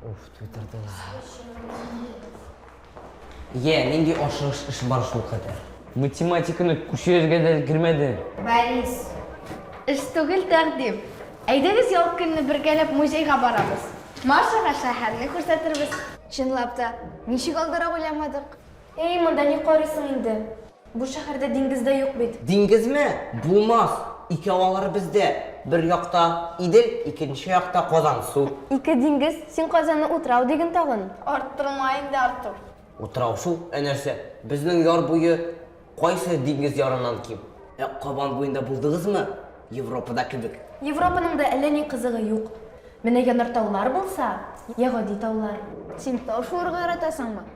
Уф, твиттерда. Е, нинди ашыгыш эш бар шул кадәр. Математиканы күчерергә дә кермәде. Борис. Эш түгел тәкъдим. Әйдәгез ял көнне бергәләп музейга барабыз. Машага шәһәрне күрсәтербез. Чынлап та, ничек алдарак уйламадык? Эй, монда ни карыйсың инде? Бу шәһәрдә диңгез дә юк бит. Диңгезме? Булмас! Икәү алар бездә. Бер якта, Идел, икенче якта, Казан, су. Ике диңгез? Син Казанны утрау диген тагын. Арттырма инде, Артур. Утрау шул. Ә нәрсә? Безнең яр буе кайсы диңгез ярыннан ким? Ә Кабан буенда булдыгызмы? Европада кебек. Европаның да әллә ни кызыгы юк. Менә янартаулар булса, йә гади таулар. Син тау шуырга яратасыңмы?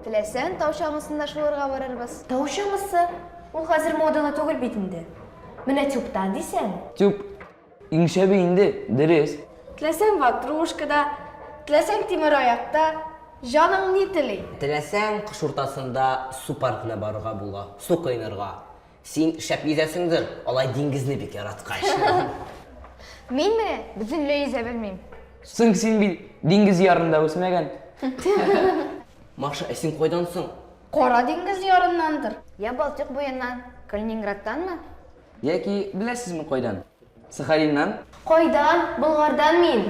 Теләсәң, тау чаңгысында шуырга барырбыз. Тау чаңгысы? Ул хәзер модалы түгел бит инде. Менә тюбта дисәң. Тюб иң шәбе инде, дөрес. Теләсәң ватрушкада, теләсәң тимер аякта, җаның ни тели. Теләсәң, кыш уртасында су паркына барырга була, су коенырга. Син шәп йөзәсеңдер, алай диңгезне бик яраткач. Мин менә бөтенләй йөзә белмим. Соң син бит диңгез ярында үсмәгән. Маша, ә син кайдан соң? Кара диңгез ярыннандыр. Я Балтыйк буеннан, Калининградтанмы? Яки беләсезме кайдан? Сахалиннан? Кайдан? Болгардан мин.